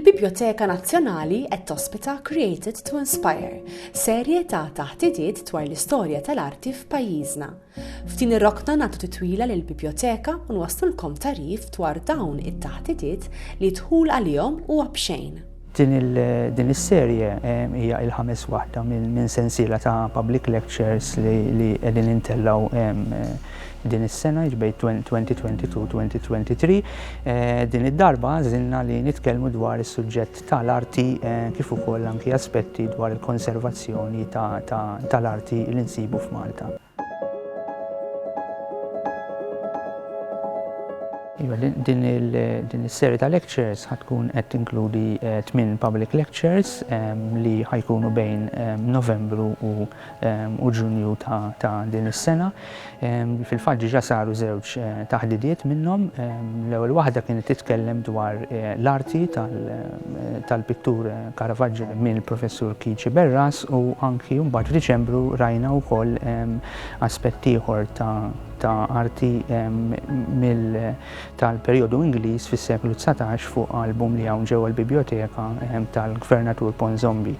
Il-Bibljoteka Nazzjonali qed tospita Created to Inspire, serje ta' taħtidiet dwar l-istorja tal-arti f'pajjiżna. F'din ir-rokna nagħtu titwila lil biblioteka u nwaslulkom tarif dwar dawn it-taħtidiet li dħul għalihom huwa b'xejn. Din is-serje eh, hija il-ħames waħda minn sensiela ta' public lectures li qegħdin intellgħu eh, Din is-sena, jiġifieri 2022-2023, din id-darba għażilna li nitkellmu dwar is-suġġett tal-arti kif ukoll anki aspetti dwar il-konservazzjoni tal-arti li nsibu f'Malta. Iva, din is-serje ta' lectures ħa tkun qed tinkludi tmien public lectures li ħa jkunu bejn Novembru u u Ġunju ta' din is-sena. Fil-fatt diġà saru żewġ taħdidiet minnhom. L-ewwel waħda kienet titkellem dwar l-arti tal-pittur Caravaggio mill-Professur Kici Berras u anki mbagħad f'Diċembru rajna wkoll aspett ieħor ta' arti tal-perjodu Ingliż fis-seklu dsatax fuq album li hawn ġewwa l-Bibjoteka tal-Gvernatur Ponsonby.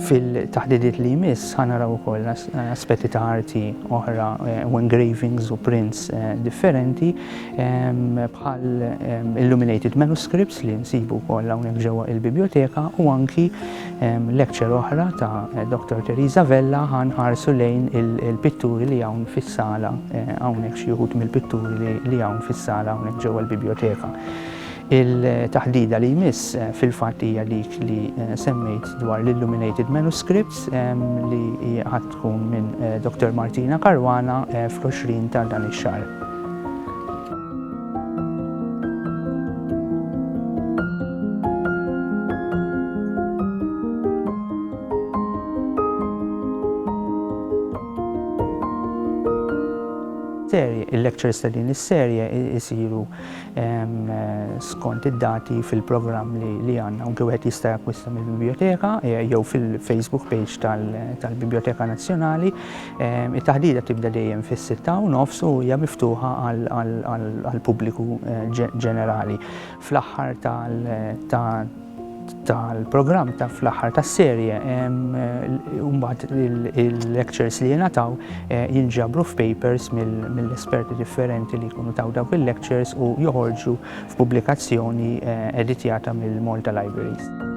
Fil-taħdidiet li jmiss ħa naraw ukoll aspetti ta' arti oħra eh, u engravings u prints eh, differenti ehm, bħal ehm, illuminated manuscripts li nsibu wkoll hawnhekk ġewwa il-biblioteka u anki ehm, lecture oħra ta' eh, Dr. Teresa Vella ħan ħarsu lejn il-pitturi li hawn fis-sala hawnhekk xi mill-pitturi li hawn fis-sala hawnhekk ġewwa l-biblioteka. Il-taħdida li jmiss fil-fatt hija dik li semmejt dwar l-illuminated manuscripts li ħadd tkun minn Dottor Martina Caruana fl-20 ta' dan ix-xahar. Il-lectures ta' din is-serje jsiru skont id-dati fil-programm li għandna u wieħed jista' jakkwista mill-biblioteka eh, jew fil-Facebook page tal-Biblioteka Nazzjonali. It-taħdida tibda dejjem fis-sitta u nofs u hija miftuħa għall-pubbliku eh, ġenerali. Fl-aħħar tal tal-programm ta' fl-aħħar tas-serje mbagħad il-lectures li jingħataw eh, jinġabru f'papers mill-esperti differenti li jkunu taw dawk il-lectures u joħorġu f'pubblikazzjoni eh, editjata mill-Malta Libraries.